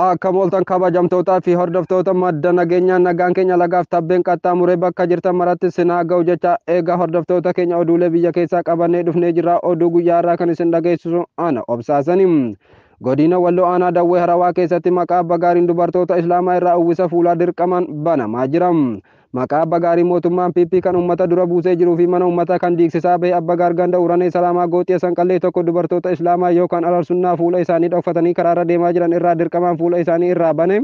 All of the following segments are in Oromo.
Akka mooltan kabajamtootaa fi hordoftoota madda nageenyaa nagaan keenya lagaaf tabbeen qaxxaamuree bakka jirtan maratti sin haa ga'u jecha eegaa hordoftoota keenya oduulee biyya keessaa qabannee dhufnee jirra oduu guyyaa har'aa kan isin dhageessisu ana obsaasani. Godina Walloo Aanaa Dawwee Harawaa keessatti maqaa abbaa gaariin dubartoota Islaamaa irraa uwwisa fuulaa dirqamaan banamaa jira. Maqaa Abba Gaarii Mootummaan PP kan Ummata dura buusee jiruu fi mana Ummataa kan diigsisaa bahe Abba Gaar Ganda Uranee Salaamaa Gooxiya Sanqallee tokko dubartoota Islaamaa yookaan Ararsunnaa fuula isaanii dhokfatanii karaarra deemaa jiran irraa dirqamaan fuula isaanii irraa bane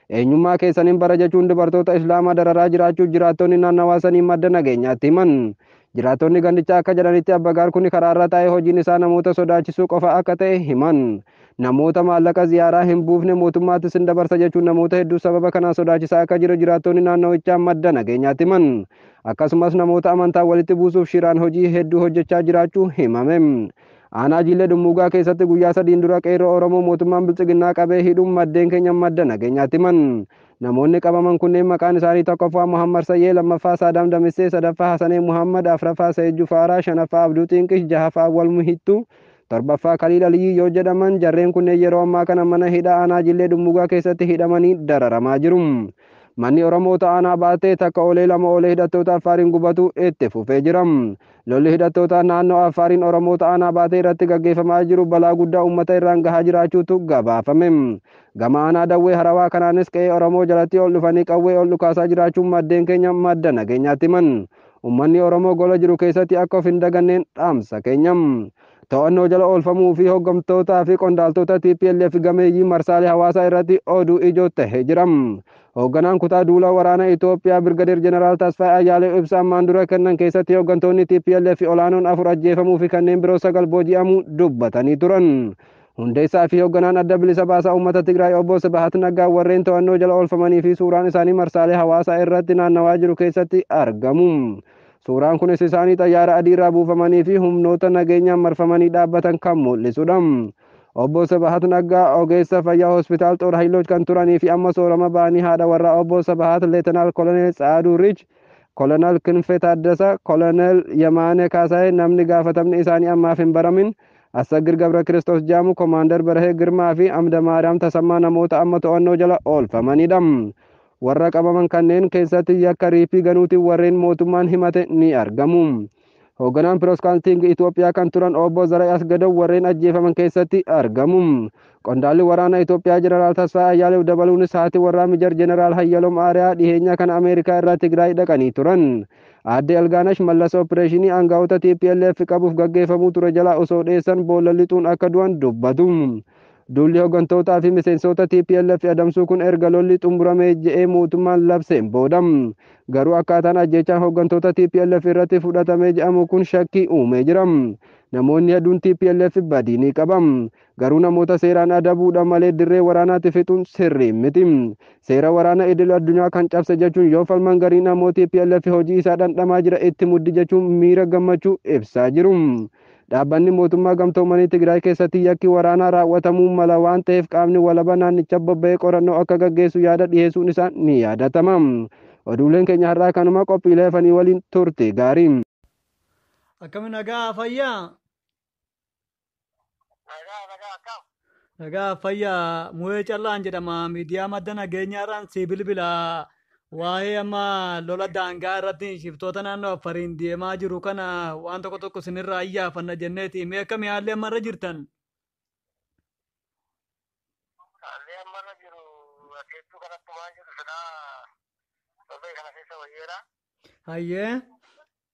eenyummaa keessan hin bara jechuun dubartoota Islaamaa dararaa jiraachuu jiraattonni naannawaa sanii madda nageenyaatti himan. Jiraattonni gandichaa akka jedhanitti Abbagaar kun karaarra taa'ee hojiin isaa namoota sodaachisuu qofa akka ta'e himan. Namoota maallaqa ziyaaraa hin buufne mootummaatti sin dabarsa jechuun namoota hedduu sababa kanaan sodaachisaa akka jiru jiraattonni naannawichaa madda nageenyaatti himan. Akkasumas namoota amantaa walitti buusuuf shiraan hojii hedduu hojjechaa jiraachuu himame. Aanaa Jiillee Dhummuugaa keessatti guyyaa sadiin dura qeerroo Oromoo mootummaan Biltsiginnaa qabee hidhuun maddeen keenya madda nageenyaatti himan. Namoonni qabaman kunneen maqaan isaanii 1ffaa Muhammad Sayyee, 2ffaa Saadaam Damissee, 3ffaa Hasanee Muhammad, 4ffaa Sayid Jufaaraa, 5ffaa Abduu Xiinqish, 6ffaa Awwal Muhittuu, 7ffaa Kaliil Aliyyii yoo jedhaman jarreen kunneen yeroo ammaa kana mana hidhaa aanaa Jillee Dhummuugaa keessatti hidhamanii dararamaa jiru. Manni Oromoota aanaa Baattee takka oolee lama oolee hidhattoota Affaariin gubatuu itti fufee jira. Lolli hidhattootaa naannoo Affaariin Oromoota Aanaa Baatee irratti gaggeeffamaa jiru balaa guddaa uummata irraan gahaa jiraachuutu gabaafame. Gama Aanaa Dawwee Harawaa kanaanis qe'ee Oromoo jalatti ol dhufanii qawwee ol dhukaasaa jiraachuu maddeen keenya madda nageenyaatti himan. Uummanni Oromoo gola jiru keessatti akka of hin daganneen dhaamsa keenya. To'annoo jala oolfamuu fi hoggamtootaa fi qondaaltota TPLF gameeyyii marsaalee hawaasaa irratti oduu ijoo tahee jira. Hoogganaan kutaa duula waraana Itoophiyaa Birgadeer Jeneraal Tasfaayee Ayyaaleew ibsa ammaan dura kennan keessatti hooggantoonni TPLF olaanoon afur ajjeefamuu fi kanneen biroo sagal booji'amuu dubbatanii turan. Hundeessaa fi hoogganaan adda bilisa baasaa uummata Tigraay obbo Sibahat Naggaa warreen to'annoo jala oolfamanii fi suuraan isaanii marsaalee hawaasaa irratti naannawaa jiru keessatti argamu. Suuraan kunis isaanii xayyaara adiirraa buufamaniifi humnoota nageenyaan marfamanii dhaabbatan kan mul'isudha. Obbo Sibahat Naggaa ogeessa fayyaa Hospitaal Xoor Hayiloch kan turaniifi amma soorama ba'anii haadha warraa Obbo Sibahat Leetenaal Koloneel Tsaaduu Riich, Koloneel Kinfee Taaddasa, Koloneel Yemaanee Kaasaayee, namni gaafatamni isaanii ammaaf hin baramin, Assaggir Gabrakiristoos Jaamu, Komaandar Barahee Girmaafi Amdamaariyaam Tasammaa namoota amma to'annoo jala oolfamanidha. Warra qabaman kanneen keessatti yakka riiphii ganuutiin warreen mootummaan himate ni argamu. Hoogganaan Pirooskaantiing Itoophiyaa kan turan obbo Zarayi Asgadaw warreen ajjeefaman keessatti argamu. Qondaalli waraana Itoophiyaa Jeneraal Tasfaa Ayyaalew dabaluunis haati warraa Mijar Jeneraal Hayyalom Aariyaa dhiheenya kana Ameerikaa irraa Tigraay dhaqanii turan. Aadde Elgaanash Mallas opireeshinii aangaa'ota TPLF qabuuf gaggeeffamuu ture jalaa osoo dheessan boolla lixuun akka du'an dubbatu. Duulli hoggantootaa fi miseensoota tplf adamsuu kun erga lolli xumurame je'ee mootummaan labseen booda. Garuu akkaataan ajjeechaan hoggantoota tplf irratti fudhatame je'amu kun shakkii uumee jira. Namoonni hedduun tplf badii ni qaba. Garuu namoota seeraan adabuudha malee dirree waraanaatti fixuun sirrii miti. Seera waraana idil addunyaa kan cabse jechuun yoo falman gariin ammoo tplf hojii isaa dhandhamaa jira itti muddi jechuun miira gammachuu ibsaa jiru. Dhaabbanni Mootummaa Gamtoomanii Tigraay keessatti yakki waraanaa raawwatamuu mala waan ta'eef qaamni walaba naannicha bobba'ee qorannoo akka gaggeessu yaada dhiheessuun isaa ni yaadatama. Oduuleen keenya har'aa kanuma qophiilee hafanii waliin turte gaarii. Akkami nagaa fayyaa? Nagaa nagaa akkam? Nagaa fayyaa mu'ee callaan jedhama miidiyaa madda nageenyaa irraan sii bilbila waa'ee amma lola daangaa irratti shiftoota naannoo affariin deemaa jiru kana waan tokko tokko sinirraa iyyaafanna jenneeti mee akkamii haalli amma irra jirtan. Haalli amma irra jiru adeemtuu kanatti waan jiru silaa torbee kana keessa wayyeera. Hayyee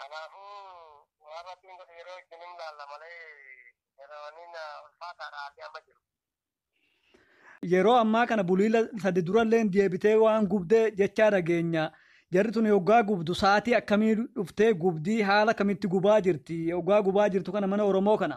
Kanaafuu waan rabbiin godhe yeroo ittiin hin laalla malee yeroonni ulfaataadha haalli amma jiru. Yeroo ammaa kana buliila sadi durallee deebitee waan gubde jechaa dhageenya. Jarri tun yoggaa gubdu sa'aatii akkamii dhuftee gubdii haala kamitti gubaa jirti? Yoggaa gubaa jirtu kana mana Oromoo kana.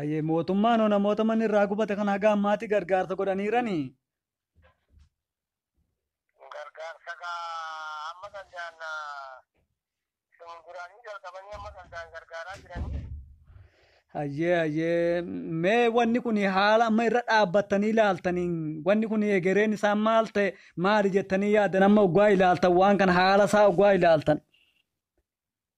Ayyee mootummaan hoo namoota manni irraa gubate kana haga ammaatti gargaarsa godhaniirani. Gargaarsa gaa amma danda'an isin duraanii jalqabanii amma danda'an gargaaraa jiranii. Ayyee ayyee mee wanni kun haala amma irra dhaabbattanii ilaaltanii wanni kun egereen isaa maal ta'e maali jettanii yaadan amma oggaa ilaaltan waan kana haala isaa oggaa ilaaltan.